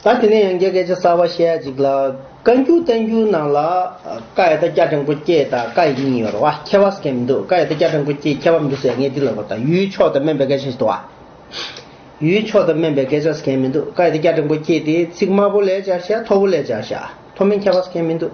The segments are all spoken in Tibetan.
ད་དེ་ནས་ཡང་བརྒྱད་སྐད་ཆ་གསར་བ་བཤད་ཡ་ཅིག་ལ། བཀའ་འགྱུར་བསྟན་འགྱུར་ནང་ལ། བཀའ་ཡི་ད་སྐྱ་སྤྲང་པོ་སྐྱེས་དང་བཀའ་ཡི་གཉིས་ཡོད་རེད་བ། ཁྱད་པར་སྐད་མི་འདུག་བཀའ་ཡི་ད་སྐྱ་སྤྲང་པོ་སྐྱེས་ཁྱད་པར་མི་འདུག་ཟེར་ངས་འདི་ལ་བ་དང་ཡུལ་ཕྱོགས་དང་སྨན་པའི་སྐད་ཆ་ཞིག་ཏུ་བ། ཡུལ་ཕྱོགས་དང་སྨན་པའི་སྐད་ཆ་སྐད་མི་འདུག་བཀའ་ཡི་ད་སྐྱ་སྤྲང་པོ་སྐྱེས་ཏེ་ཚིག་དམར་པོ་ལས་སྦྱར་བཤད་མཐོ་པོ་ལས་སྦྱར་བཤད་མཐོ་དམན་ཁྱད་པར་སྐད་མི་འདུག།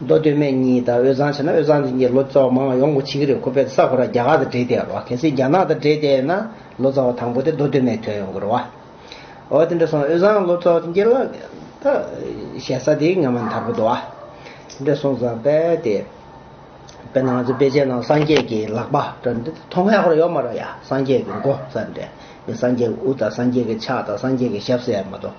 མདོ་སྟོད་སྨད་གཉིས་དང་དབུས་གཙང་བྱས་ན་དབུས་གཙང་དེ་གཉིས་ལོ་ཙཱ་བ་མང་བ་ཡོང་གི་འགོ་བྱེད་ཀྱི་རེད་ཁོ་པས་ས་གོ་ར་རྒྱ་གར་དང་འབྲེལ་ཏེ་ཡོང་རོགས་གལ་སྲིད་རྒྱ་ནག་དང་འབྲེལ་ཏེ་ཡོང་ན་ལོ་ཙཱ་བ་དང་པོ་དེ་མདོ་སྟོད་སྨད་དོད་ཡོང་གི་རོགས། འོ་དེ་འདྲ་སོང་དབུས་གཙང་ལོ་ཙཱ་བ་དེ་གཉིས་ལ་ད་བཤད་ས་དེ་ངེས་མ་མཐར་པོ་འདུག་ཨ། དེ་འདྲ་སོང་ཙང་དཔེ་དེ་དཔེ་ན་ང་ཚོ་དཔེ་ཆའི་ནང་སངས་རྒྱས་ཀྱི་ལག་པ་འདྲ་འདི་མཐོང་མཁན་ཧོར་ཡོད་མ་རོགས་ཡ་སངས་རྒྱས་ཀྱི་མགོ་ས་འདྲ་སངས་རྒྱས་ཀྱི་དབུ་དང་སངས་རྒྱས་ཀྱི་ཕྱག་དང་སངས་རྒྱས་ཀྱི་ཞབས་ཟེར་ཡ་མ་གཏོགས།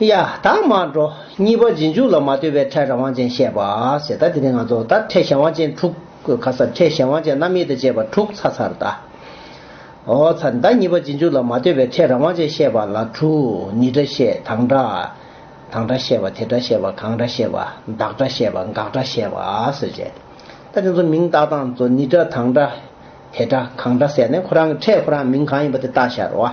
གཡའ་དག་མར་འགྲོ། གཉིས་པ་རྗེས་འཇུག་ལ་མ་ལྟོས་པའི་འཕྲལ་རང་དབང་ཅན་བཤད་པ། ཞེས་ད་དེ་ནི་ང་ཚོ་ལྟར་འཕྲལ་གཞན་དབང་ཅན་དྲུག། ག་སར་འཕྲལ་གཞན་དབང་ཅན་རྣམ་དབྱེ་དང་བཅས་པ་དྲུག་ཚ་ཚར་ལྟ། འོ་ཚ་ལྟ་གཉིས་པ་རྗེས་འཇུག་ལ་མ་ལྟོས་པའི་འཕྲལ་རང་དབང་ཅན་བཤད་པ་ལ་དྲུག་ནི་སྒྲ་བཤད་དང་སྒྲ། དང་སྒྲ་བཤད་པ་དེ་སྒྲ་བཤད་པ་གང་སྒྲ་བཤད་པ་བདག་སྒྲ་བཤད་པ་འགག་སྒྲ་བཤད་པ་སོགས་བྱས། ལྟ་དེ་ཚོ་མིང་བཏགས་སྟངས་ཚོ་ནི་སྒྲ་དང་སྒྲ། དེ་སྒྲ་གང་སྒྲ་ཟེར་ནས་ཁོ་རང་གི་འཕྲལ་ཁོ་རང་མིང་གང་ཡིན་པ་དེ་བཏགས་ཤར་བ།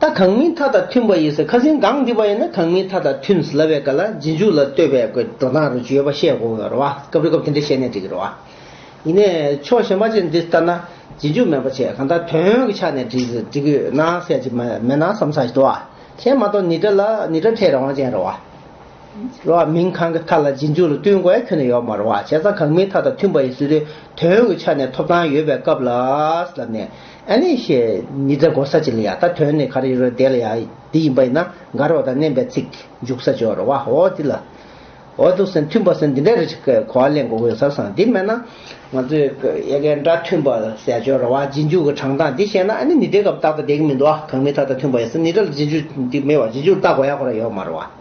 ད་གང་མིན་མཐའ་དང་མཐུན་པ་ཡིན་ཟེར་ཁ་ཟིན་སྒང་འདི་པ་ཡིན་ན་གང་མིན་མཐའ་དང་མཐུན་སླ་བའི་སྐད་ལ་རྗེས་འཇུག་ལ་ལྟོས་པའི་དགོད་བྲོ་སྟངས་རེ་བྱུས་ཡོད་པ་ཤེས་དགོས་ངེས་རེད་བ་སྐབས་རེ་སྐབས་དེ་འདྲས་བཤད་ནས་འགྲིག་གི་རེད་བ། ཡིན་ནས་ཕྱོགས་ཞེན་པ་ཅན་འདི་ལྟར་ན་རྗེས་འཇུག་མེད་པ་ཆེ་གང་ལྟར་དོན་གྱི་ཆ་ནས་འགྲིག་གི་ཡོད་ན་གསལ་བྱེད་མེད་ན་བསམ་ས་ཞིག་འགྲོ་བ། ཁྱེད་མ་གཏོགས་ནི་དྲ་ལ་ནི་དྲ་ཕྲད་རང་དབང་ཅན་རེད་བ། རོགས་ཨ་མིན་གང་གི་མཐའ་ལ་རྗེས་འཇུག་ལ་བསྟུན་དགོས་ཁྱོན་ནས་ཡོད་མ་རུང་བ་བྱས་ཙང་གང་མིན་མཐའ་དང་མཐུན་པ་ཡིན་སྲིད་དུས་དོན་གྱི་ཆ་ནས་ཐོབ་ཐང་ཡོད་པའི་སྐབས་ལ་ལབ་ནས་ཨ་ནི་ཞེས་མི་ཚེ་འགོར་ས་ཅི་ལ་ཡ་ད་དོན་ནི་ག་རེ་ཡིན་རུང་དེ་ལ་ཡ་འདི་ཡིན་པ་ཡིན་ན་དགའ་རོགས་དང་མནན་པའི་ཚིག་འཇུག་ས་ཅི་བ་རུང་བ་འོ་འདི་ལ་འོ་འདུག་སེམས་མཐུན་པ་སེམས་འདི་འདྲ་རེད་ཅེས་གོ་བ་ལེན་དགོས་མཁོ་ཡོད་ས་སང་འདི་མེད་ན་ང་ཚོས་ཡ་གས་འདྲ་མཐུན་པ་ཟས་སྤྱོད་རུང་བ་རྗེས་འཇུག་གི་དྲང་གཏང་འདི་བཤད་ན་ཨ་ནི་ནི་དེ་སྐབས་རྟག་ཏུ་བསྡད་ཀྱི་མི་འདུག་ཨ་གང་མིན་མཐའ་དང་མཐུན་པ་ཡིན་སྲིད་ནི་འདྲ་ལ་རྗེས་འཇུག་འདི་མེད་བ་རྗེས་འཇུག་ལ་བལྟ་དགོས་ཡ་གོ་ར་ཡོད་མ་རུང་བ།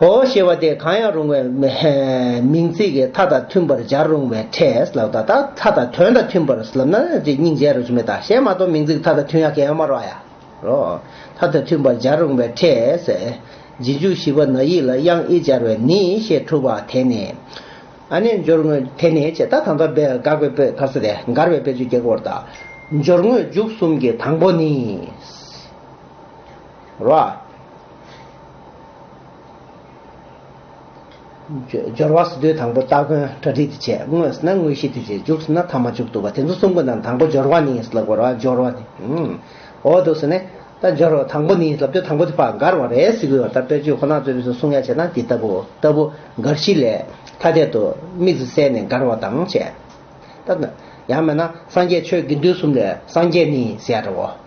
ཨོ་ཞེས་པ་དེ་གང་ཡང་རུང་བའི་མིང་ཚིག་གི་མཐའ་དང་མཐུན་པར་སྦྱར་རུང་བའི་ཕྲད་ལ་བཟླ། མཐའ་དང་དོན་དང་མཐུན་པར་ལབ་ན་སྙིང་རྗེ་རོ་ཆུ་མེ་དང་གཞན་མ་གཏོགས་མིང་ཚིག་མཐའ་དང་མཐུན་ཡང་གན་མ་རོག་ཡ། རོ། མཐའ་དང་མཐུན་པར་སྦྱར་རུང་བའི་ཕྲད། རྗེས་འཇུག་བཞི་པ་ན་ཡིག་ལ་དབྱངས་ཨི་སྦྱར་བས་ནི་ཞེས་གྲུབ་པ་དེ་ནི། རྣལ་འབྱོར་དངོས་དེ་ནི་ཅེས་ད་དང་དོར་དགག་པའི་དཔེ་ག་ས་ཏེ་མགར་བའི་དཔེ་བཅུ་གྱ་གོ་བར་དང། འབྱོར་དངོས་འཇུག་གསུམ་གྱི་དང་པོ་ནི། རོ། སྦྱོར་བ་སོ་བདུན་དང་པོ་སྟ་གོན་གྲ་སྒྲིག་དེ་བྱས་དངོས་སུ་ན་དངོས་གཞི་དེ་བྱས་འཇུག་སུ་ན་ཐ་མ་འཇུག་བཏུ་བ་དེ་ཚོ་གསུམ་པོ་ན་དང་པོ་སྦྱོར་བ་ནི་ཡིན་སྲིད་ལ་གོ་ར་སྦྱོར་བ་ནི་འོ་དུ་སུ་ནས་ད་སྦྱོར་བ་དང་པོ་ནི་ཡིན་སྲིད་ལབ་དུས་དང་པོ་དེ་བག་འགར་བ་རེད་སྲིད་གོ་ད་དཔེར་བརྗོད་ཁོ་ན་རྩོད་པའི་སུ་གསུང་ཡ་བྱས་ན་དེ་ལྟ་བུ་ལྟ་བུ་འགར་གཞི་ལས་ཐ་དད་དུ་དམིགས་སུ་བསལ་ནས་འགར་བ་དང་བཅས། ད་ཡང་མེད་ན་སངས་རྒྱས་ཆོས་དགེ་འདུན་གསུམ་ལས་སངས་རྒྱས་ནི་ཟེར་བའོ།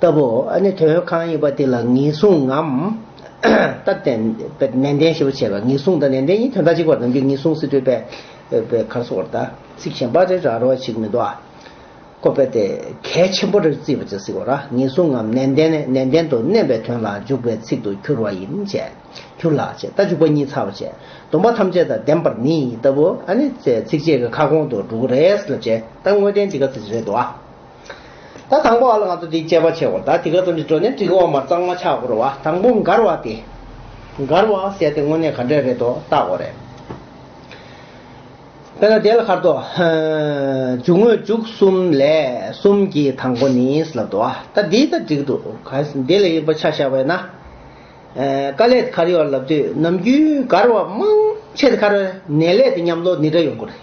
ལྟ་བུ། ནི་དོན་ཡོད་གང་ཡིན་པ་དེ་ལ་ངེས་བཟུང་ངམ། སྟབས་བདེ། ནན་ཏན་ཞེས་པ་བྱས་པ་ངེས་བཟུང་དང་ནན་ཏན་གཉིས་དོན་དག་གཅིག་པར་སྡོམ་རྒྱུ་ངེས་བཟུང་སྲིད་གྲོལ་པའི་གར་སོགས་བར་དང་ཚིག་གཞན་པ་རེ་རག་རེ་བ་ཞིག་མི་འདུག་ཨ། ཀོ་པེ་ཏེ། གལ་ཆེན་པོ་རེར་བརྩིས་པ་ཅིག་སྲིད་གོ་ར་ངེས་བཟུང་ངམ་ནན་ཏན་ནི་ནན་ཏན་དུ་བསྣན་པའི་དོན་ལ་འཇུག་པའི་ཚིག་ཏུ་གྱུར་བ་ཡིན། གྱུར་ལགས་ཅེས་རྟ་འཇུག་པ་གཉིས་ཚར་བ་བྱས་སྡོམ་པ་ཐམས་ཅད་དང་ལྡན་པར་ནི་ལྟ་བུ། ནི། ཚིགས་བཅད་ཀྱི་ཁ་སྐོང་དུ་འགྲོ་གི་རེད་ལབ་བྱས་རྟ་དངོས་བསྟན་གྱི་ག་ཚོད་ཅིག་རེད་འདུག་ཨ། ད་དང་པོ་ཨ་ལ་ང་ཚོ་འདི་དཔྱད་པ་བྱེད་འོང་ད་དེ་ག་ཙམ་གྱི་འགྲོ་ནས་འགྲིག་འོང་མར་གཙང་མ་ཆགས་འགོར་བ་དང་པོ་མགར་བ་སྟེ། མགར་བ་ཟེར་ཏེ་དངོས་གནས་ག་འདྲས་རེད་དོ་བལྟ་འོང་རེད། དཔེར་ན་དེ་ལ་ཁར་དོ། འཇུག་དངོས་འཇུག་གསུམ་ལས་གསུམ་གྱི་དང་པོ་ནི་ལབ་འདུག་ད་འདི་ད་འགྲིག་འདུག་གལ་འདི་ལ་ཡིག་པ་ཆ་བཞག་པས་ན། དཀའ་ལས་དེ་ཁར་ཡོད་ལབ་དུས་ནམ་རྒྱུན་མགར་བ་མང་ཆེ་དེ་ཁར་ནད་ལས་དེ་ཉམས་ལོ་ནི་འདྲ་ཡོང་གི་རེད།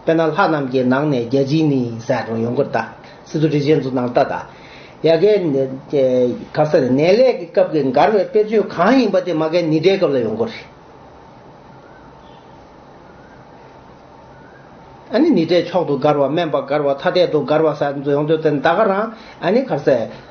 དཔེར་ན་ལྷ་རྣམས་ཀྱི་ནང་ནས་རྒྱལ་སྤྱིའི་ནི་ཟས་དྲོངས་ཡོང་གུར་དང། སི་ཏུ་རི་བཞེངས་འཛུགས་གནང་ལྟ་དང། ཡ་གའི། གར་ས་ནས་ནད་ལས་ཀྱི་སྐབས་ཀྱི་མགར་བའི་དཔེར་བརྗོད་གང་ཡིན་པ་དེ་མ་གའི་ནི་སྒྲའི་སྐབས་ལ་ཡོང་གུར་རེད། ཨཱ་ནི་ནི་སྒྲའི་མཆོག་ཏུ་མགར་བ་སྨན་པ་མགར་བ་ཐ་དད་དུ་མགར་བ་ཟས་འཛུགས་ཡོང་དོན་ཏེ་ད་ག་རང་ཨཱ་ནི་གར་ས།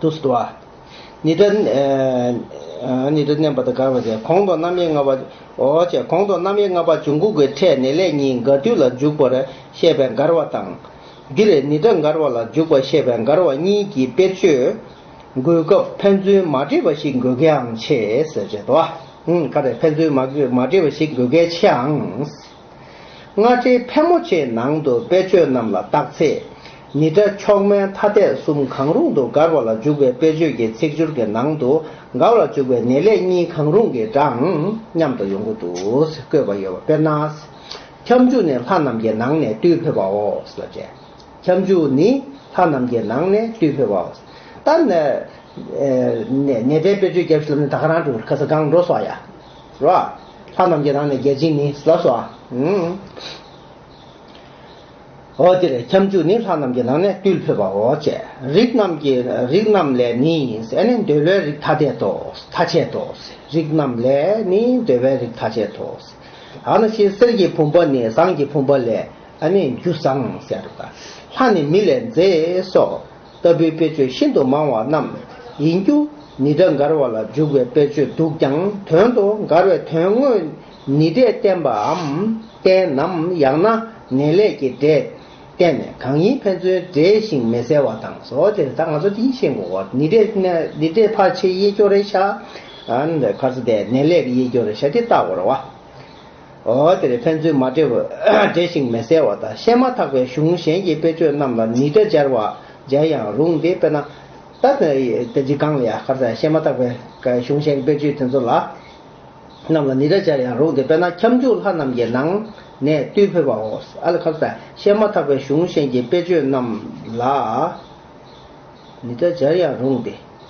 ཏུ་སུ་བ། ནི་ཏྲ། ནི་ཏྲ་བསྣན་པ་དང་དགར་བ་བྱས། གོང་དུ་རྣམ་དབྱེ་ལྔ་པ། འོ་བྱས། གོང་དུ་རྣམ་དབྱེ་ལྔ་པ་འབྱུང་ཁུངས་ཀྱི་ཕྲད་ནི་ལས་གཉིས་དགར་དུས་ལ་འཇུག་པར་བཤད་པའི་དགར་བ་དང། འདིར་ནི་ཏྲ་དགར་བ་ལ་འཇུག་པར་བཤད་པའི་དགར་བ་གཉིས་ཀྱི་དཔེར་བརྗོད། འགོད་སྐབས་ཕན་ཚུན་མ་འདྲེས་པ་ཞིག་འགོད་མཁན་འང་ཆེ། ཟེར་བྱེད་དོ། ཀ་རེ་ཕན་ཚུན་མ་འདྲེས་པ་ཞིག་འགོད་མཁན་ཆེའང། སྔ་ཕྱིའི་ཕལ་མོ་ཆེ་ནང་དུ་དཔེ་ཆོས་རྣམས་ལ་བརྟག་ཚེ། ནི་སྒྲ་མཆོག་མན་དྷ་དད་གསུམ་གང་རུང་དུ་དགར་བ་ལ་འཇུག་པའི་དཔེ་ཆོས་ཀྱི་ཚིག་སྦྱོར་གྱི་ནང་དུ་དགར་བར་འཇུག་པའི་ནི་ལས་གཉིས་གང་རུང་གི་སྒྲའང་མཉམ་དུ་ཡོང་གི་འདུག་བཀོད་པ་ཡོད་པ་དཔེར་ན། ཁྱབ་འཇུག་ནི་ལྷ་རྣམས་ཀྱི་ནང་ནས་བཏུས་འཕོས་པའོ། ལ་བཅས། ཁྱབ་འཇུག་ནི་ལྷ་རྣམས་ཀྱི་ནང་ནས་བཏུས་འཕོས་པའོ། ད། ནི་སྒྲའི་དཔེ་ཆོས་སྐྱབས་སུ་ལམ་ནི་ད་ག་རང་གྲུ་ཁ་ས་གང་འགྲོ་སོགས་ཡ། རོ། ལྷ་རྣམས་ཀྱི་རང་ནས་རྒྱལ་ཆེན་ནི་ཟབས་སོ། འོ་འདིར་ཁྱབ་འཇུག་ནི་ལྷ་རྣམས་ཀྱི་རང་ནས་བཏུལ་ཕོད་པའོ། ཅེས་རིགས་རྣམས་ཀྱི་རིགས་རྣམས་ལས་ནི་ཟད་ནས་འདོད་བློའི་རིགས་ཐ་དད་དོ། ཐ་ཆད་དོ། རིགས་རྣམས་ལས་ནི་འདོད་པའི་རིགས་ཐ་ཆད་དོ། ཧ་ན་ཤེས་གསེར་གྱི་བུམ་པ་ནི་ཟངས་ཀྱི་བུམ་པ་ལས། རྒྱུ་ཟངས། ལྷ་ནི་མི་ལས་མཛེས་སོ། ལྟ་བུའི་དཔེ་བརྗོད་ཤིན་ཏུ་མང་བ་རྣམས་ཡིན་རྒྱུ་ནི་སྒྲ་མགར་བ་ལ་འཇུག་པའི་དཔེ་བརྗོད་འདུག་ཀྱང་དོན་དུ་མགར་བའི་དོན་དངོས་ནི་སྒྲས་བསྟན་པའམ་བསྟན་ནམ་ཡང་ན་ནན་ལས་ཀྱི་སྒྲས་བསྟན་ནས་གང་ཡིན་ཕན་ཚུན་འདྲེས་ཤིང་མི་གསལ་བ་དང། ཟོ་དེར་ད་ང་ཚོ་དེ་གཉིས་ཤེས་འགོ་ནི་སྒྲས་ཕར་ཕྱིའི་དབྱེ་སྐྱོར་རེ་བྱ། ཁར་ཟོ་དེ་ནན་ལས་ཀྱི་དབྱེ་སྐྱོར་རེ་བྱ་སྟེ་ལྟ་བར་བ། དེར་ཕན་ཚུན་མ་འབྲེལ་བས་འབྲེལ་ཞིང་མི་གསལ་བ་དང་བཤད་མ་ཐག་པའི་གཞུང་གཞན་གྱི་དཔེ་ཆོས་རྣམས་ལ་ནི་སྒྲ་སྦྱར་བ་སྦྱར་ཡང་རུང་སྟེ་དཔེར་ན། ད་ལྟ་འཇིགས་སྒང་ལ་ཡ་གར་དང་བཤད་མ་ཐག་པའི་གཞུང་གཞན་གྱི་དཔེ་ཆོས་དེ་ཚོ་ལ་རྣམས་ལ་ནི་སྒྲ་སྦྱར་ཡང་རུང་སྟེ་དཔེར་ན་ཁྱབ་འཇུག་ལྷ་རྣམས་ཀྱི་ནང་ནས་བརྟུལ་ཕོད་པའོ། ཨ་ལ་གར་དང་བཤད་མ་ཐག་པའི་གཞུང་གཞན་གྱི་དཔེ་ཆོས་རྣམས་ལ་ནི་སྒྲ་སྦྱར་ཡང་རུང་སྟེ།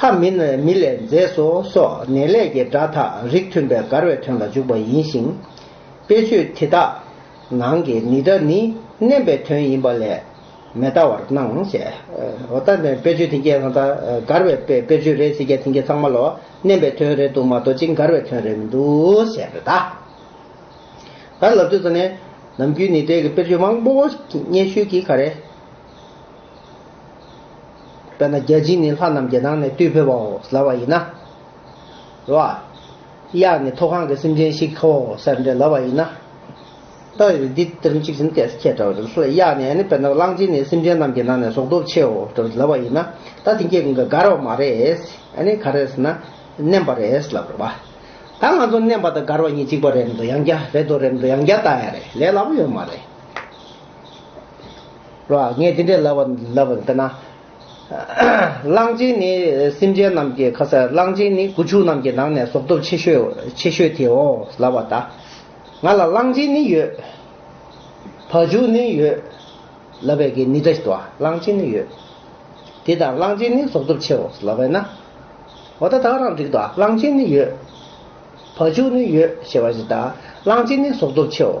ལྷ་མིན་ནས་མི་ལས་མཛེས་སོ་སོགས་ནས་ལས་ཀྱི་སྒྲ་དག་རིགས་མཐུན་པའི་མགར་བའི་དོན་ལ་འཇུག་པ་ཡིན་ཞིང། དཔེ་ཆོས་དེ་དག་ནང་གི་ནི་སྒྲ་ནི་བསྣན་པའི་དོན་ཡིན་པ་ལས་མི་ལྟ་བར་སྣང། འོ་ད་ནི་དཔེ་ཆོས་དེ་སྐད་ན་ད་མགར་བའི་དཔེ་ཆོས་རེད་ཟེར་སྐད་དེ་སྐད་ཚང་མ་ལོ་བསྣན་པའི་དོན་རེད་འདུག་མ་གཏོགས་ཅི་མགར་བའི་དོན་རེད་མི་འདུག་ཟེར་རེད་ད། ད་ལབ་དུས་ད་ནི་ནམ་རྒྱུན་ནི་དེ་གི་དཔེར་བརྗོད་མང་པོ་སྙན་ཞུས་ཀྱིས་ག་རེ། དཔེར་ན་བརྒྱ་བྱིན་ནི་ལྷ་རྣམས་བརྒྱད་ནང་ནས་བཏུས་ཕོད་པའོ་ཟླ་བ་ཡིན་ན། རོ། གཡག་ནི་མཐོ་གང་གི་སེམས་ཅན་ཞིག་ཧོ་སེར་འདྲའི་ལ་བ་ཡིན་ན། ལྟ། འདི་ལྟར་གཅིག་བྱིན་གྱིས་ཁྱེད་འདྲ་བ་རྣམས་སུ་ལ་གཡག་ནི་ནི་དཔེར་ན་གླང་ཆེན་ནི་སེམས་ཅན་རྣམས་ཀྱི་ནང་ནས་ཟོག་རྡོ་ཆེའོ་འདྲ་བ་ལ་བ་ཡིན་ན། ད་དེ་སྐྱེ་གང་གི་ག་རེ་བ་མ་རེད། ག་རེ་ཟེར་ན། བསྣན་པ་རེད་ལབ་རེད་བ། ད་ང་ཚོ་བསྣན་པ་དང་གར་བ་གཉིས་གཅིག་པ་རེད་མདོ་ཡང་བརྒྱ་རེད་དོ་རེད་མདོ་ཡང་བརྒྱ་ལྟ་ཡ་རེད་ལས་སླ་པོ་ཡོད་མ་རེད། རོ། ངས་འདི་འདྲའི་ལབ་པ་ལབ་པ་དཔེར་ན། གླང་ཆེན་ནི་སེམས་ཅན་རྣམས་ཀྱི་ཁ་ཟས་གླང་ཆེན་ནི་ཁུ་བྱུག་རྣམས་ཀྱི་ནང་ནས་ཟོག་སྟོབས་ཆེ་ཤོས་ཆེ་ཤོས་དེའོ་ལབ་པ་ལྟ། ང་ལ་གླང་ཆེན་ནི་ཡོད། བག་བྱུག་ནི་ཡོད། ལབ་པའི་གན་ནི་འདྲ་ཞིག་ཏུའང་གླང་ཆེན་ནི་ཡོད། དེ་དང་གླང་ཆེན་ནི་ཟོག་སྟོབས་ཆེའོ་ལབ་པས་ན། འོ་ད་ད་རང་འགྲིག་ཏོ་གླང་ཆེན་ནི་ཡོད། བག་བྱུག་ནི་ཡོད་ཞེས་པ་བཞིན་ད་གླང་ཆེན་ནི་ཟོག་སྟོབས་ཆེའོ།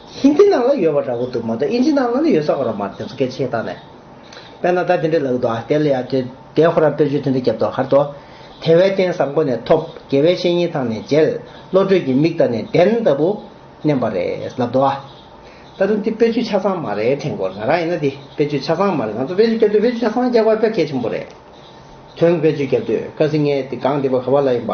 ཧིན་དྷི་ནང་ལ་ཡོད་པ་འདྲ་བོ་འདུག་མ་གཏོགས་ཨིན་ཇི་ནང་ལ་ནི་ཡོད་ས་མ་རོགས་མ་རེད་དེ་ཚོ་སྐད་ཆའི་སྟངས་ནས། དཔེར་ན་ད་དེ་འདྲའི་ལགས་འདུག་ཨ་དེ་ལ་ཡང་དེ་དེའི་ཧོར་རམ་དཔེར་བརྗོད་དེ་འདྲ་བརྒྱབ་འདུག་ཧར་དོ། དེ་བས་བསྟན་བསམ་སྒོ་ནས་ཐོབ་དགེ་བའི་བཤེས་གཉེན་ཐང་ནས་མཇལ། བློ་གྲོས་ཀྱི་མིག་དང་ནི་གདན་ལྟ་བུ། མནན་པ་རེད་ལབ་འདུག་ཨ། ད་དུང་དེ་དཔེར་བརྗོད་ཆ་ཚང་མ་རེད་དྲན་དགོས་ང་རང་ཡིན་ན་དེ་དཔེར་བརྗོད་ཆ་ཚང་མ་རེད་ང་ཚོ་དཔེར་བརྗོད་བརྒྱབ་དུས་དཔེར་བརྗོད་ཆ་ཚང་རྒྱག་པ་དཔེ་གལ་ཆེན་པོ་རེད། དོན་དཔེར་བརྗོད་བརྒྱབ་དུས་དཀར་སིང་ངེ་དེ་སྒང་འདི་པ་ག་བ་ལ་ཡིན་པ།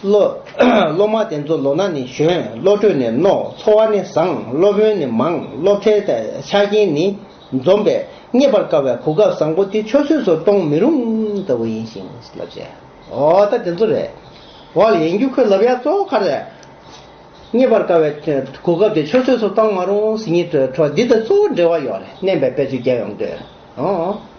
སློབ་མ་དེ་ཚོ་ལོ་ན་ནི་གཞོན་བློ་གྲོས་ནི་རྣོ་འཚོ་བ་ནི་བཟང་སློབ་དཔོན་ནི་མང་སློབ་གྲྭའི་ཆ་རྐྱེན་ནི་འཛོམས་པས་རྙེད་པར་དཀའ་བའི་གོ་སྐབས་བཟང་པོ་དེ་ཆོས་སྲོལ་སུ་གཏོང་མི་རུང་ལྟ་བུ་ཡིན་ཞིང་ལབ་ཅེས་ཨོ་ད་དེ་ཚོ་རེད་འོ་ཡིན་རྒྱུ་ཁོས་ལབ་ཡག་གཙོ་བོ་ག་རེད། རྙེད་པར་དཀའ་བའི་གོ་སྐབས་དེ་ཆོས་སྲོལ་སུ་གཏོང་མ་རུང་ཟིན་གྱི་འཕྲོ་འདི་དང་གཙོ་བོ་འབྲེལ་བ་ཡོད་རེད་བསྣན་པའི་དཔེ་ཚོད་རྒྱབ་ཡོང་དུས་ཨོ།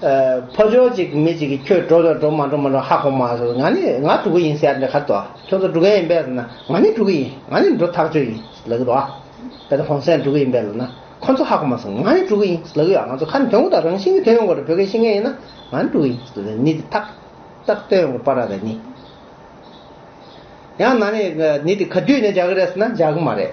ཕོ་ཇོ་གཅིག་མི་གཅིག་གིས་ཁྱོད་འགྲོ་འགྲོ་མ་འགྲོ་མ་འགྲོ་ཧ་གོ་མ་ཟེར་ང་ནི་ང་དྲུ་གུ་ཡིན་ཟེར་ནས་གར་དོ་ཁྱོད་ཚོ་དྲུ་ག་ཡིན་པས་ཟེར་ན་ང་ནི་དྲུ་གུ་ཡིན་ང་ནི་འགྲོ་ཐག་ཆོད་ཡིན་ཟེར་ལ་གི་རོ་གལ་ཏེ་ཧོང་སན་དྲུ་གུ་ཡིན་པས་ཟེར་ན་ཁོ་ཚོ་ཧ་གོ་མ་ཟེར་ང་ནི་དྲུ་གུ་ཡིན་ཟེར་ལ་གི་ཡོད་ང་ཚོ་ཁ་ནི་དོན་གོ་དང་རང་བཞིན་གྱི་དོན་ཡོང་གོ་རེད་བོད་སྐད་ཤེས་མཁན་ཡིན་ན་ང་ནི་དྲུ་གུ་ཡིན་ཟེར་ནི་དེ་ཐག་ཐག་དོན་ཡོང་གོ་པ་ར་ར་ནི་ཡང་ན་ནི་ནི་དེ་ག་དུས་ནས་འཇག་གི་རེད་ཟེར་ན་འཇག་གི་མ་རེད།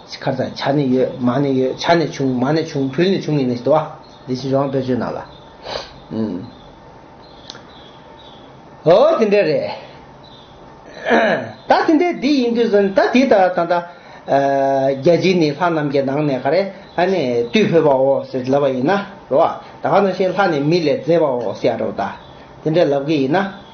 ཁར་དང་བྱ་ནི་ཡོད་མ་ནི་ཡོད་བྱ་ནི་བྱུང་མ་ནི་བྱུང་བུལ་ནི་བྱུང་ངེས་ནི་ཞེས་དུ་བ། འདི་བཞིན་རོང་དཔེར་བརྗོད་རྣམས་ལ། འོ་དེ་འདྲ་རེད། ད་དེ་འདྲ་འདི་ཡིན་དུས་སུ་ད་དེ་ལྟར་ད་ལྟ། རྒྱལ་སྤྱིའི་ནི་ལྷ་རྣམས་ཀྱི་ནང་ནས་ག་རེ་ཨ་ནི་བཏུས་ཕོད་པའོ་ཟེར་ལབ་པ་ཡིན་ན་རོ། ད་ག་ནང་བཞིན་ལྷ་ནི་མི་ལས་མཛེས་པའོ་ཟེར་ཡ་རོ་ད། དེ་འདྲ་ལབ་གི་ཡིན་ན།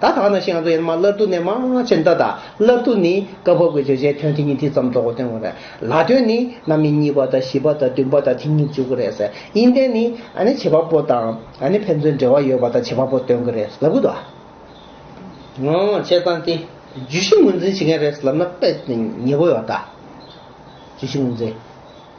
ད་ཐག་ན་ཤིང་ཨ་ཙོ་ཡན་མ་སླར་བསྡུ་ནས་མང་ཆེ་མདའ་དག་སླར་བསྡུ་ནི་སྐབས་བབ་ཀྱི་བརྗོད་བྱའི་དོན་དེ་ཉིད་དེ་ཙམ་རྫོགས་པ་སྟོན་དགོས་རེད་ལ་དོན་ནི་གནའ་མི་གཉིས་པ་དང་བཞི་པ་དང་བདུན་པ་དང་དེ་གཉིས་བཅུ་དགུ་རེད་ཟེར་དབྱིན་ལྡན་ནི་ཨ་ནི་བྱེད་པ་པོ་དང་ཨ་ནི་ཕན་ཚུན་འབྲེལ་བ་ཡོད་པ་དང་བྱེད་པ་པོ་སྟོན་གི་རེད་ལབ་གི་འདུག་ཨ། བྱས་ཙང་དེ་བརྗོད་གཞི་ངོས་འཛིན་བྱེད་མཁན་རེད་ལབ་ན་དཔེ་ཉེ་པོ་ཡོད་ད། བརྗོད་གཞི་ངོས་འཛིན།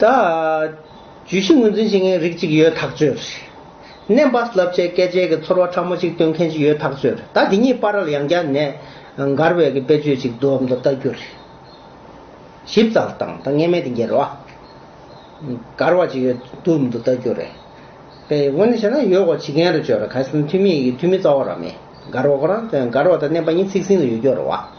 ད། བརྗོད་གཞི་ངོས་འཛིན་བྱེད་མཁན་རིགས་གཅིག་ཡོད་ཐག་ཆོད་རེད། ནད་པ་བསླབ་བྱའི་སྐད་ཆའི་གི་ཚོར་བ་ཕྲ་མོ་ཅིག་སྟོན་མཁན་ཞིག་ཡོད་ཐག་ཆོད་རེད་ད་དེ་ཉིད་པར་རལ་ཡང་བསྐྱར་ནས་མགར་བའི་གི་དཔེ་བརྗོད་ཅིག་བསྡུ་བའམ་དུ་བལྟ་རྒྱུ་རེད། ཞིབ་ཚགས་བཏང་ད་ངེས་མེད་དེ་འགྱེལ་བ། མགར་བ་ཅིག་ཡོད་བསྡུ་བའམ་དུ་བལྟ་རྒྱུ་རེད། དཔེ་དངོས་ནས་བཤད་ན་ཡོད་གོ་བྱེད་མཁན་རེད་ཆོས་རེད་གལ་སྲིད་འཐུས་མི་ཡི་གི་འཐུས་མི་རྩ་བ་རང་མེད་མགར་བ་ཁོ་རང་མགར་བ་དང་ནད་པ་གཉིས་ཚིག་ཟིན་དུ་ཡོད་རྒྱུ་རེད་བ།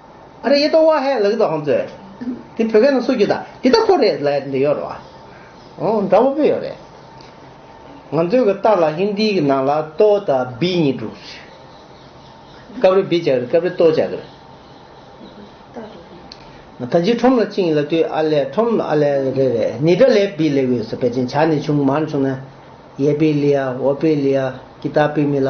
ཨ་རེ་ཡེ་ཏོ་བ་ཧའི་ལག་ཏུ་ཨང་ཙོའི། དེ་བོད་སྐད་ནང་སུ་རྒྱུ་ད་འདི་ད་ཁོ་རེ་ལ་ཡ་འདི་ཡོད་རེད་བ། ཨོ་འདྲ་བོ་པོ་ཡོད་རེད། ང་ཚོའི་གི་ཏཱ་ལ་ཧིན་དིའི་གི་ནང་ལ་ཏོ་ད་བི་གཉིས་འགྲུག་རེད། སྐབས་རེ་བི་བྱ་གི་རེད་སྐབས་རེ་ཏོ་བྱ་གི་རེད། ད་ལྗི་ཁྲོམ་ལ་ཅིང་ལ་ཏུའི་ཨ་ལེ་ཁྲོམ་ཨ་ལེ་རེ་རེད་ནི་ཏྲ་ལེ་བི་ལེ་ཝི་སོ་པེ་ཅིང་བྱ་ནི་ཆུང་མར་ཆུང་ན། ཡེ་པི་ལི་ཡ་ཝོ་པི་ལི་ཡ་ཀི་ཏཱ་པི་མི་ལ།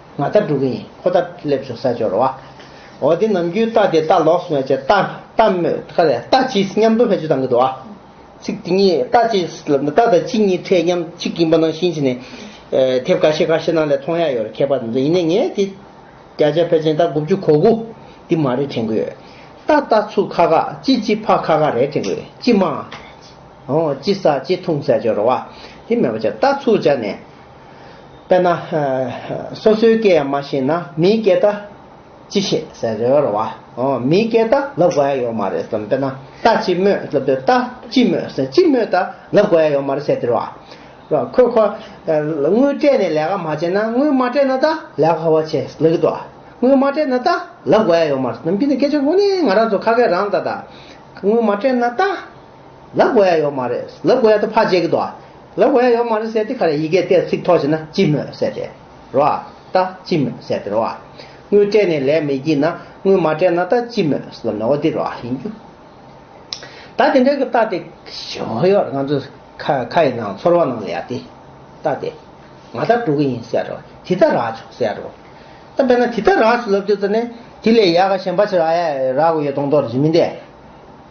ང་རྟ་སྒྲུག་གི་ཡིན་ཁོ་རྟ་སླེབས་བྱུང་ས་སྦྱོར་བ། འོ་དེ་ནམ་རྒྱུན་རྟ་དེ་རྟ་ལོགས་སུ་མེད་ཅེས་རྟ་རྟ་རྟ་གཅིག་མཉམ་དུ་བེད་སྤྱོད་བཏང་གི་འདུག་ཚིག་དེ་གཉིས་རྟ་གཅིག་རྟ་དང་གཅིག་གཉིས་ཕྲད་མཉམ་གཅིག་ཡིན་པ་ནང་བཞིན་བྱས་ནས། དེབ་འགའ་ཤས་འགའ་ཤས་ནང་ལས་མཐོང་ཡ་ཡོད་རེད་མཁས་པ་དེ་ཚོས་ཡིན་ནའི་ངས་དེ། བརྒྱ་ཆ་ཕལ་ཆེན་རྟ་དགུ་བཅུ་གོ་དགུ་འདི་མ་རེད་དྲན་གི་ཡོད། རྟ་རྟ་ཚུགས་ཁ་ཁ་ཅི་ཅི་ཕག་ཁ་ཁ་རེད་དྲན་གི་ཡོད་ཅི་མ། འོ་ཅི་ཟ་ཅི་འཐུང་ས་སྦྱོར་བ། དེ་མེད་པ་ཅག་རྟ་ཚུགས་བྱ་ནས། དཔེར་ན། སོ་སོའི་སྐད་ཡང་མ་ཤེས་ན་མིའི་སྐད་ད་ཅི་ཤེས་ཟེར་རེད་བ། མིའི་སྐད་ད་ལབ་དགོས་ཡ་ཡོད་མ་རེད་བསམ་དཔེར་ན་ད་ཅི་སྨོས་ལབ་དུས་ད་ཅི་སྨོས་ཟེར་ཅི་སྨོས་ད་ལབ་དགོས་ཡ་ཡོད་མ་རེད་ཟེར་ཟེར་བ། ཁོས་ཁོ། དངུལ་སྤྲད་ནས་ལས་ཀ་མ་བྱས་ན་དངུལ་མ་སྤྲད་ན་ད་ལས་ཀ་ག་བ་བྱས་ལབ་གི་འདུག་བ། དངུལ་མ་སྤྲད་ན་ད་ལབ་དགོས་ཡ་ཡོད་མ་རེད་བསམ་དཔེར་ན་སྐད་ཆ་དངོས་གནས་ང་རང་ཚོ་ཁ་སྐད་རང་ད་ད་དངུལ་མ་སྤྲད་ན་ད། ལ་དགོས་ཡ་ཡོད་མ་རེད། ལ་དགོས་ཡ་དེ་ཕར་བཅད་གི་འདུག་ཨ། ལ་དགོས་ཡ་ཡོད་མ་རེད་ཟེར་ཏེ་ཁ་རས་ཡི་གེ་བལྟས་ཚིག་ཐོ་བྱས་ན་ཅི་སྨོས་ཟེར་ཏེ། རོ་ཨ། ད་ཅི་སྨོས་ཟེར་ཏེ་རོ་ཨ། དངུལ་སྤྲད་ནས་ལས་མི་བགྱིས་ན་དངུལ་མ་སྤྲད་ན་ད་ཅི་སྨོས་ཟེར་ན་ནོ་འདི་རོ་ཨ་ཡིན་རྒྱུ། ད་དེ་འདྲ་གི་ལྟ་དེ། ཞོགས་ཡོར་ང་ཚོ་ཁ་ཁ་ཡི་ནང་ཚོར་བ་ནང་ལ་ཡ་དེ། ལྟ་དེ། ང་ད་འགྲོ་གི་ཡིན་ཟེར་རོ་དེ་ད་རག་བྱུང་ཟེར་རོ། ད་དཔེར་ན་དེ་ད་རག་བྱུང་ལབ་རྒྱུ་ཙ་ནས་དེ་ལས་ཡག་ག་གཞན་པ་ཆི་རག་ཡ་རག་གི་ཡོད་མདོག་མདོག་རེད་མི་འདེད།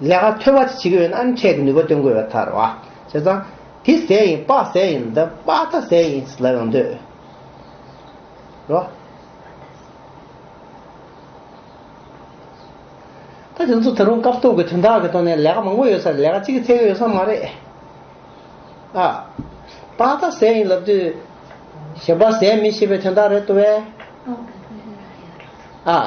ལས་ཀ་ཐོལ་བ་ཅིག་བྱེད་ཀྱི་ཡོད་ན་ཨ་འཐས་ཀྱི་ནུས་པ་སྟོན་དགོས་པའི་ཐར་བ། བྱས་ཙང། དེ་ཟས་ཡིན་དཔག་ཟས་ཡིན་འདི་དཔག་ལྟ་ཟས་ཡིན་ཟེར་ལབ་ཡོང་འདོད། རོ། ད་དེ་ཚོ་ད་རུང་སྐབས་ཐོག་གི་དོན་དག་གི་ཐོག་ནས་ལས་ཀ་མང་པོ་ཡོད་ས་རེད་ལས་ཀ་གཅིག་གི་ཚད་ཀྱི་ཡོད་ས་མ་རེད། ཨ། དཔག་ལྟ་ཟས་ཡིན་ལབ་དུས། གཞན་པ་ཟས་མིན་ཞེས་པའི་དོན་དག་རེད་དོ་བས། ཨ།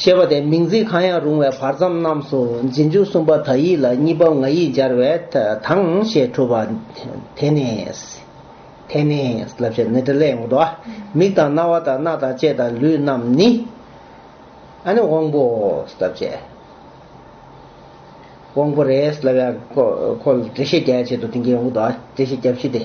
ཞེས་པ་དེ་མིང་ཚིག་གང་ཡང་རུང་བའི་བར་མཚམས་རྣམས་སུ་འཛིན་འཇུག་གསུམ་པ་དག་ཡིག་ལ་གཉིས་པ་ང་ཡིག་སྦྱར་བས་དང་ཞེས་གྲུབ་པ། དེ་ནས། དེ་ནས། ལབ་བྱེད་ནི་དྲི་ལས་འོངས་པ། མིག་དང་རྣ་བ་དང་སྣ་དང་ལྕེ་དང་ལུས་རྣམས་ནི། ཨ་ནི་དབང་པོ། ལབ་བྱེད། དབང་པོ་རེད་ལབ་བྱེད། འཁོར་འཁོར་འདྲེ་ཤེས་རྒྱལ་བྱེད་དུ་དེ་འགའི་འོག་ཏུ་ཨ་འདྲེ་ཤེས་རྒྱལ་བཞི་སྟེ།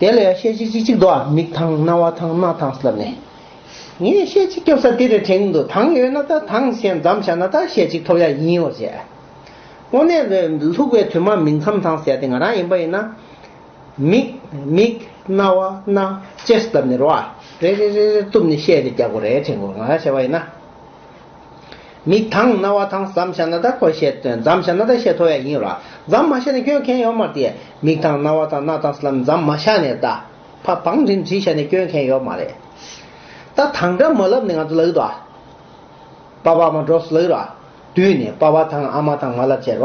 དེ་ལ་ཡང་ཤེས་བྱེད་གཅིག་གཅིག་དུའང་མིག་དང་རྣ་བ་དང་སྣ་དང་ལག་ནས། ངས་ཤེས་བྱེད་སྐྱོབ་ས་འདིར་དྲན་དུ་དྭངས་ཡོད་ན་དང་དྭངས་ཞེས་འཛམ་བྱ་ན་དང་ཤེས་བྱེད་ཐོབ་ཡ་ཡིན་འོ་བྱས། དངོས་གནས་ལ་ལྷུག་པའི་དུས་མ་མིག་མཚམས་དྭངས་ཟེར་ཡ་དེ་ང་རང་ཡིན་པ་ཡིན་ན། མིག། མིག། རྣ་བ། སྣ། ཅེས་བསྡམས་ནས་རོ། རེ་རེ་རེ་རེར་གཏུབས་ནས་བཤད་རེ་རྒྱག་གོ་རེ་དྲན་གོ་ང་རང་བྱས་པ་ཡིན་ན། མིག་དང་རྣ་བ་དང་ཟམ་ཤ་ན་ད་ཁོ་བཤད་དོན་ཛམ་ཤ་ན་ད་བཤད་ཐོ་ཡ་ཡིན་ར་ཛམ་མ་ཤ་ནས་སྐྱོན་མཁན་ཡོད་མ་རེད་མིག་དང་རྣ་བ་དང་སྣ་དང་སླམ་ཛམ་མ་ཤ་ནས་ད་ཕ་བང་འགྲིན་བྲིས་ཤ་ནས་སྐྱོན་མཁན་ཡོད་མ་རེད་ད་དང་འདྲ་མ་ལབ་ནས་ང་ཚོ་ལག་ད་པ་བ་མ་འགྲོ་སུ་ལག་ར་དུས་ནས་པ་བ་དང་ཨ་མ་དང་མ་ལབ་བྱས་ར།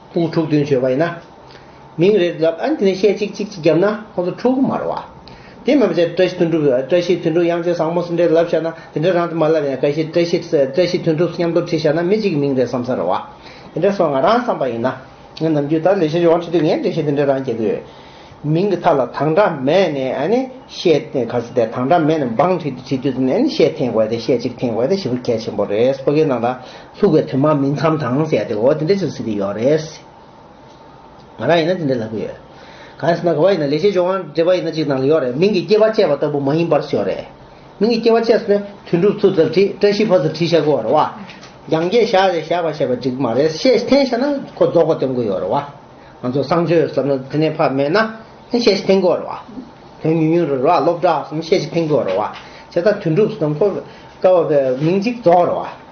ཁོང་ཕྲུག་བདུན་བྱོལ་བ་ཡིན་ན། མིང་རེ་ལབ་ཨ་འདི་ནས་བཤད་ཅིག་ཅིག་ཅིག་བརྒྱབ་ན་ཁོང་ཚོ་ཕྲུག་གུ་མར་བ། དེ་མ་བྱས་བཀྲ་ཤིས་དོན་གྲུབ་བཀྲ་ཤིས་དོན་གྲུབ་དབྱངས་ཅན་བཟང་མོ་སུ་འདྲས་ལབ་བཞག་ན་དེ་འདྲས་རང་དུ་མ་ལབ་ཡང་བཀྲ་ཤིས་བཀྲ་ཤིས་བཀྲ་ཤིས་དོན་གྲུབ་མཉམ་དུ་བྲིས་བཞག་ན་མི་གཅིག་གི་མིང་རེ་བསམ་ས་རེ་བ། དེ་འདྲས་སོང་ང་རང་བསམ་པ་ཡིན་ན། ངའི་ནམ་རྒྱུན་ད་ལས་བྱེད་ཡོང་ཁྲི་དུས་ངས་འགྲེལ་བཤད་དེ་འདྲས་རང་བྱེད་ཀྱི་ཡོད། མིང་གི་མཐའ་ལ་དང་སྒྲ་མེད་ནས་ཨ་ནི་བཤད་ག་ས་དེ་དང་སྒྲ་མེད་ནས་འབངས་བྲིས་དུས་ཨ་ནི་བཤད་ཐེངས་དགོས་ཏེ་བཤད་ཅིག་ཐེངས་དགོས་ཏེ་བཞི་པོ་གལ་ཆེན་པོ་རེད་སོ་གའི་ནང་ད། ལྷུག་པའི་དོན་མ་སྨིན་མཚམས་དང་བཅས་ཏེ་འོ་དེ་འདྲས་བྱུང་ཟིན་གྱི་ཡོད་རེད། ང་རང་ཡིན་ན་དེ་འདྲས་ལབ་གི་ཡོད། གང་ཡིན་ཟེར་ན་ག་བ་ཡིན་ན་ལེགས་བྱས་སྦྱོར་དབང་འབྲེལ་པ་ཡིན་ན་གཅིག་ནང་ལ་ཡོད་རེད་མིང་གི་སྐྱེ་བ་བཅས་པ་ལྟ་བུ་མ་ཡིན་པར་ཤོད་རེད། མིང་གི་སྐྱེ་བ་བཅས་སུ་ནི་དོན་གྲུབ་ཚུལ་ཙཱ་བྲིས་བཀྲ་ཤིས་ཕ་ཙཱ་བྲིས་བཤད་དགོས་རེད་བ། རྒྱང་བཀྱེད་བཞག་རེད་བཞག་པ་བཤད་པ་འགྲིག་གི་མ་རེད་ཤེས་ཐེངས་བཤད་ན་ཁོ་རྫོགས་པ་སྟོན་དགོས་ཡོད་རེད་བ། ང་ཚོ་གསང་སྤྱོད་ཟེར་ན་དེ་ནས་ཕ་མེད་ན་ཤེས་ཤེས་ཐེངས་དགོས་རེད་བ། དོན་ཉུང་ཉུང་རེད་བ་སློབ་གྲྭ་ཟེར་ན་ཤེས་ཤེས་ཐེངས་དགོས་རེད་བ། བྱས་ཙང་དོན་གྲུབ་ཟེར་ན་ཁོ་བསྐལ་བ་པའི་མིང་གཅིག་རྫོགས་རེད་བ།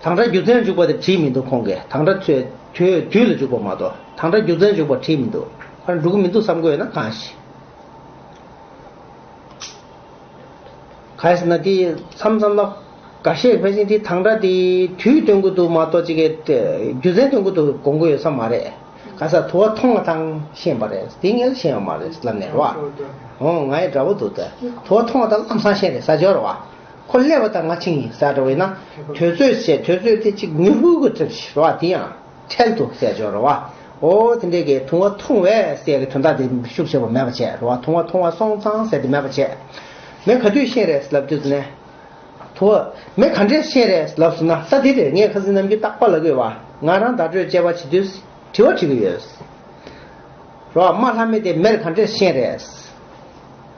དང་སྒྲ་རྒྱུ་མཚན་འཇུག་པ་དེ་བྲིས་མི་འདུག་ཁོང་གིས་དང་སྒྲ་ཐོས་དུས་དུས་ལ་འཇུག་པ་མ་གཏོགས་དང་སྒྲ་རྒྱུ་མཚན་འཇུག་པ་བྲིས་མི་འདུག་ཕར་འགྲོ་གི་མི་འདུག་བསམ་དགོས་ཡོད་ན་གང་ཞིག་ག་ཟེར་ན་དེ་མཚམས་མཚམས་ལ་ག་ཤེད་ཕལ་ཆེན་དེ་དང་སྒྲ་དེ་དུས་སྟོན་དགོས་འདུག་མ་གཏོགས་ཅི་གའི་རྒྱུ་མཚན་སྟོན་དགོས་འདུག་དགོངས་དགོས་ཡོད་ས་མ་རེད། ག་ས་དུ་བ་མཐོང་བ་དང་ཤེས་པ་རེད་དེ་ངས་ཤེས་ཡོད་མ་རེད་ལབ་ནས་རོགས། ཨོ་ང་ཡི་འདྲ་པོ་འདུག་ད་དུ་བ་མཐོང་བ་དང་ལམ་སང་ཤེས་རེད་ས་འཇོག་རོགས། ཁོ་ཀླད་བ་དང་ང་ཆིངས་ཡིན་ཟེར་བ་ཡིན་ན་དོལ་ཚོས་བཤད་དོལ་ཚོས་དེ་གཅིག་མྱུར་ཧུར་ཧུར་བྲིས་ཞེས་བ་དེ་ཡང་འཕྲལ་དུ་བསལ་བྱོས་རོ་བ་འོ་དེ་འདྲས་ཀྱི་དུང་བ་འཐུང་བས་སའི་གི་དོན་དག་དེ་ཤུགས་ཆེ་བ་མེད་པ་བྱས་རོ་བ་དུང་བ་འཐུང་བ་སོང་ཙང་ཟེར་དེ་མེད་པ་བྱས་མེད་ག་དུས་གཤེན་རེས་ལབ་དུས་ནས་དུ་བ་མེད་ག་འདྲས་གཤེན་རེས་ལབ་སོང་ན་ས་དེ་རེས་ངས་ཁ་ཟིན་ནམ་གྱི་རྟག་པ་ལ་གོས་བ་ང་རང་བརྡ་སྤྲོད་བཅས་བ་བྱེད་དུས་དྲི་བ་དྲི་གི་ཡོད་རོ་བ་རྨ་ལྷ་མེད་དེ་མེར་ག་འདྲས་གཤེན་རེས།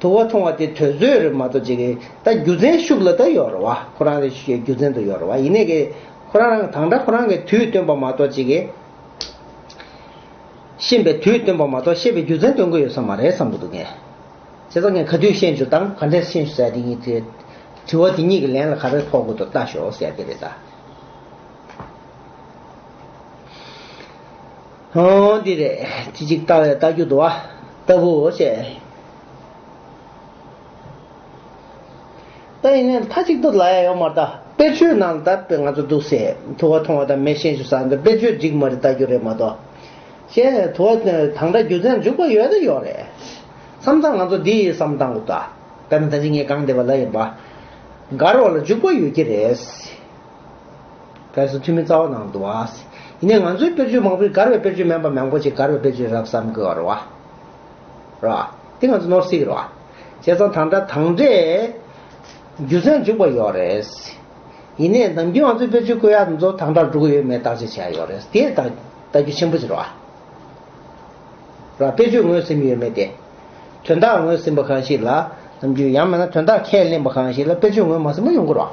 དུ་བ་མཐོང་བ་དེ་ཐོས་བཟོད་རེད་མ་གཏོགས་ཅི་གི་ད་རྒྱུ་མཚན་ཤུགས་ལ་ད་ཡོད་རེད་བ་ཁོ་རང་རེད་ཤི་ཡོད་རྒྱུ་མཚན་དུ་ཡོད་རེད་བ་ཡིན་ནས་གི་ཁོ་རང་རང་དང་འདྲ་ཁོ་རང་གི་དུས་སྟོན་པ་མ་གཏོགས་ཅི་གི་ཤེས་པའི་དུས་སྟོན་པ་མ་གཏོགས་ཤེས་པའི་རྒྱུ་མཚན་སྟོན་གི་ཡོད་ས་མ་རེད་བསམ་གི་འདུག་ངས་བྱས་ཙང་ངས་ག་དུས་ཤེས་འཇུག་དང་ག་འདྲས་ཤེས་འཇུག་ཟེར་ཡ་དེ་གཉིས་དེ་དྲི་བ་དེ་གཉིས་ཀྱི་ལན་ལ་ག་རེ་ཕོག་དགོས་འདུག་ལྟ་ཞོག་ཟེར་ཡ་དེ་རེད་ད། ཧཱུྃ། འདི་རེ་ཅི་ཅིག་ལྟ་བའི་རྟ་རྒྱུག་དུ་བ་ལྟ་བུའོ་ཞེས། ད་ཡིན་ནའི་མཐའ་གཅིག་ཏུ་ལ་ཡ་ཡོག་མར་ལྟ་དཔེར་ཆོས་ནང་ལྟ་དཔེ་ང་ཚོ་འདུག་སའི་དུ་བ་མཐོང་བ་དང་མེ་ཤེས་འཇུག་ས་འདི་དཔེར་ཆོས་འགྲིག་མ་རེད་ལྟ་རྒྱུ་རེད་མ་གཏོགས། ཞེས་ནས་དུ་བ་དང་འདྲ་རྒྱུ་མཚན་འཇུག་པ་ཡོད་ད་ཡོག་རེད། བསམ་ཚང་ང་ཚོ་འདི་ཡི་བསམ་སྟངས་དགོས་ལྟ་དཔེར་ན་ད་ཅིག་ངའི་གང་བདེ་བ་ལ་ཡིན་པ། མགར་བ་ལ་འཇུག་པ་ཡོད་ཀྱི་རེད། བས་སུ་ཐུན་མིན་རྩ་བ་ནང་དུ་བ། ཡིན་ནས་ང་ཚོའི་དཔེར་བརྗོད་མང་པོས་མགར་བའི་དཔེར་བརྗོད་མན་པ་མང་པོ་ཆེ་མགར་བའི་དཔེར་བརྗོད་རབ་བསམ་དགོས་བར་བ། ར། དེ་ང་ཚོ་ནོར་སྲིད་ར། བྱས་ཙང་དང་འདྲ་དང་འདྲའི། རྒྱུ་མཚན་འཇུག་པ་ཡོད་རེད། ཡིན་ནས་ནམ་རྒྱུན་ང་ཚོའི་དཔེར་བརྗོད་བཀོད་ཡག་འདི་ཚོ་དང་འདྲར་འགྲོ་གི་ཡོད་མེད་བརྟག་དཔྱད་བྱས་ཡག་ཡོད་རེད། དེ་ལྟ་ལྟ་རྒྱུ་ཆེན་པོ་ཆེ་ར་བ། ར། དཔེ་བརྗོད་ངོས་ཟིན་ཡོད་མེད་དེ། དོན་དག་ངོས་ཟིན་པ་གང་ཞིག་ལ། ནམ་རྒྱུན་ཡང་མེད་ན་དོན་དག་ཁས་ལེན་པ་གང་ཞིག་ལ་དཔེ་བརྗོད་ངོས་མ་ཟིན་པ་ཡོང་དགོས་ར་བ།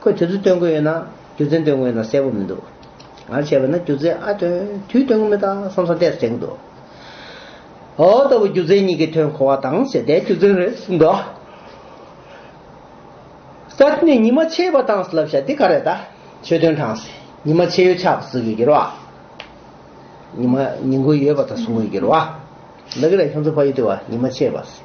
ཁོས་དུས་ཚོད་སྟོན་དགོས་ཡོད་ན་རྒྱུ་མཚན་སྟོན་དགོས་ཡོད་ན་གསལ་པོ་མི་འདུག་ང་བྱས་པ་ན་རྒྱུ་མཚན་ཨ་དོན་དུས་སྟོན་གི་མི་དང་བསམ་བསམ་བལྟས་སུ་དྲན་གི་འདུག་ཨོ་ལྟ་བུ་རྒྱུ་མཚན་གཉིས་ཀྱི་དོན་གོ་བ་དང་བྱས་བལྟས་རྒྱུ་མཚན་རེད་ཟེར་འདུག་གསར་བརྗེ་ནས་ཉི་མ་ཕྱེད་པ་དང་བསླབ་བྱ་འདི་ག་རེད་ད་ཆོས་དོན་དྲངས་ཟེར་ཉི་མ་ཕྱེད་ཡོད་ཆགས་པ་ཟུག་གི་འགྱུར་བ་ཉི་མ་ཉིན་དགུ་ཡོད་པ་དང་ཟུག་གི་འགྱུར་བ་ལགས་ཀྱི་རེད་ཁྱོད་ཚོ་ཕ་ཡུལ་དུ་བ་ཉི་མ་ཕྱེད་པ་ཟེར།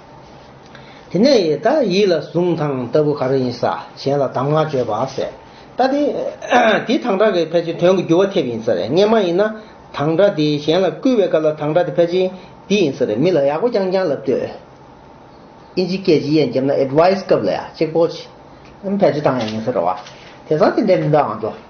དེ་ནས་ཡི་དྭགས་ཡིད་ལ་བཟུང་དང་ལྟ་བུ་ག་རེ་ཡིན་ས་གཞན་ལ་གདམས་ངག་བརྗོད་པ་ཟད། ད་དེ་དེ་དང་སྒྲ་གི་ཕལ་ཆེར་དོན་གྱི་འགྱུར་བ་ཐེབས་ཡིན་ས་རེད་ངས་མ་ཡིན་ན། དང་སྒྲ་དེ་གཞན་ལ་བསྐུལ་བའི་སྐབས་ལ་དང་སྒྲ་དེ་ཕལ་ཆེར་འདི་ཡིན་ས་རེད་མི་ལ་ཡག་པོ་རྐྱང་རྐྱང་ལབ་འདོད། ཨིན་ཇི་སྐད་ཇི་ཡན་འཇབ་ན Advice སྐབས་ལ་ཡག་གཅིག་པོ། ཕལ་ཆེར་དང་ཡག་ཡིན་ས་རེད་བ། དེ་སང་དེ་འདྲའི་མི་འདུག་ཨང་འགྲོ།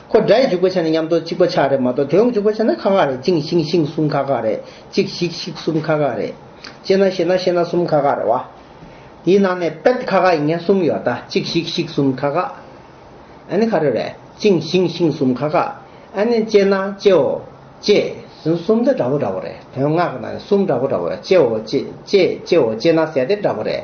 ཁོ་དགྲ་ཡི་འཇུག་པ་ཆ་ནི་མཉམ་གཏོགས་གཅིག་པ་ཆ་རེད་མ་གཏོགས་དེ་འོག་འཇུག་པ་ཆ་ན་ཁ་ཁ་རེད་གཅིག་ཤིང་ཤིང་གསུམ་ཁ་ཁ་རེད་གཅིག་ཤིག་ཤིག་གསུམ་ཁ་ཁ་རེད། ཅེ་ན་ཤེ་ན་ཤེ་ན་གསུམ་ཁ་ཁ་རེད་བ། དེའི་ནང་ནས་པད་ཁ་ཁ་ཡིན་མཁན་གསུམ་ཡོད་ད་གཅིག་ཤིག་ཤིག་གསུམ་ཁ་ཁ། ཨ་ནི་ཁ་རེ་རེད་གཅིག་ཤིང་ཤིང་གསུམ་ཁ་ཁ། ཨ་ནི་ཅེ་ན་ཅེའོ་ཅེས་ཟིན་གསུམ་དེ་འདྲ་བོ་འདྲ་བོ་རེད་དོན་ངག་གི་ནང་ནས་གསུམ་འདྲ་བོ་འདྲ་བོ་ཡོད་ཅེའོ་ཅེ་ཅེ་ཅེའོ་ཅེ་ན་ཟད་དེ་འདྲ་བོ་རེད།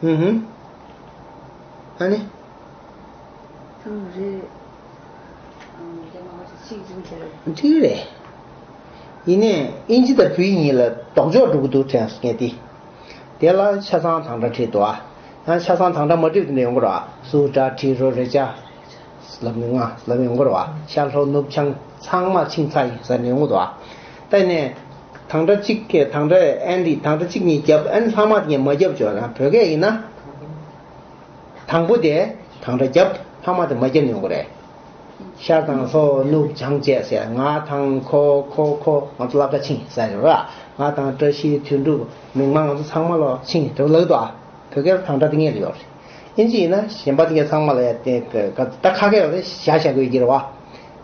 ཧུ་ཧུ། ཨ་ནི། ཐུགས་རེ། ཐུགས་རེ། ཡིན་ནས་ཨིན་ཇི་དང་བུའི་གཉིས་ལ་ལྡོག་ཕྱོགས་འགྲོ་གི་འདུག་དྲན་སོང་ངས་དེ། དེ་ལ་ཆ་ཚང་དང་འདྲ་བྲིས་འདུག་ཨ། ཡང་ཆ་ཚང་དང་འདྲ་མ་བྲིས་འདུག་ནས་ཡོང་གི་རོ་ཨ། སུ་འདྲ་བྲིས་རོ་རེད་ཆ། ལབ་མི་ང་ལབ་ཡོང་གི་རོ་ཨ། ཤར་ལྷོ་ནུབ་བྱང་ཚང་མ་ཆིངས་ཚ་ཡིན་ཟེར་ནས་ཡོང་གི་འདུག་ཨ། བལྟས་ནས། དང་སྒྲ་གཅིག་གིས་དང་སྒྲ་ཨན་འདི་དང་སྒྲ་གཅིག་ཉིད་བརྒྱབ་ཨན་ལྷག་མ་ངས་མ་བརྒྱབ་ཅོག་ཡང་བོད་སྐད་ཡིན་ན། དང་པོ་དེ་དང་སྒྲ་བརྒྱབ་ལྷག་མ་དེ་མ་བརྒྱབ་ནི་ཡོང་གི་རེད། ཤར་དང་ལྷོ་ནུབ་བྱང་བཅས་ཟེར་ང་དང་ཁོ་ཁོ་ཁོ་ང་ཚོ་སླབ་གྲ་ཆིངས་ཟེར་གི་རེད། ང་དང་བཀྲ་ཤིས་དོན་འགྲུབ་མིང་མ་ང་ཚོ་ཚང་མ་ལོ་ཆིངས་དེ་ལག་ཏུ་བོད་སྐད་དང་སྒྲ་དེ་ངེས་ལ་ཡོད་རེད། ཨིན་ཇི་ཡིན་ན་གཞན་པ་དེ་ག་ཚང་མ་ལ་ཡ་དེ་ག་ད་ཁ་སྐད་ཡོད་ན་བཞག་བཞག་དགོས་ཀྱི་རེད་བ།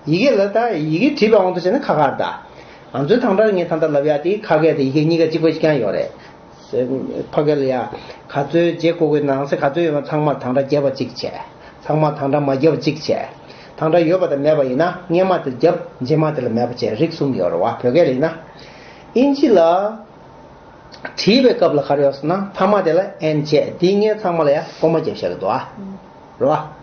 ཡི་གེ་ལ་དང་ཡི་གེ་བྲིས་པ་དབང་དུ་བྱས་ན་ཁ་ཁར་དང། ང་ཚོའི་ཐང་སྒྲར་ངས་ད་ལྟ་ལབ་ཡག་དེ་ཁ་སྐད་དང་ཡི་གེ་གཉིས་ཀ་གཅིག་པ་ཞིག་ཀྱང་ཡོད་རེད། ཕ་སྐད་ལ་ཡང། ག་ཚོད་བརྗེ་དགོས་དགོས་ནང་གསེས་ག་ཚོད་ཡོད་མ་ཚང་མར་ཐང་སྒྲ་བརྒྱབ་པ་གཅིག་བྱས། ཚང་མར་ཐང་སྒྲ་མ་བརྒྱབ་པ་གཅིག་བྱས། ཐང་སྒྲ་ཡོད་པ་དང་མེད་པ་ཡིན་ན་སྔས་མ་དེར་བརྒྱབ་རྗེས་མ་དེ་ལ་མེད་པ་བྱས་རིགས་གསུམ་ཡོད་རེད་བ་བོད་སྐད་ལ་ཡིན་ན། དབྱིན་ཇི་ལ། བྲིས་པའི་སྐབས་ལ་ཁར་ཡོད་སོང་ན་མཐའ་མ་དེ་ལ་ཨེན་བྱས་དེའི་སྔས་ཚང་མ་ལ་ཡང་ཀོ་མ་བརྒྱབ་བྱས་རེད་དོ། རེད་བ།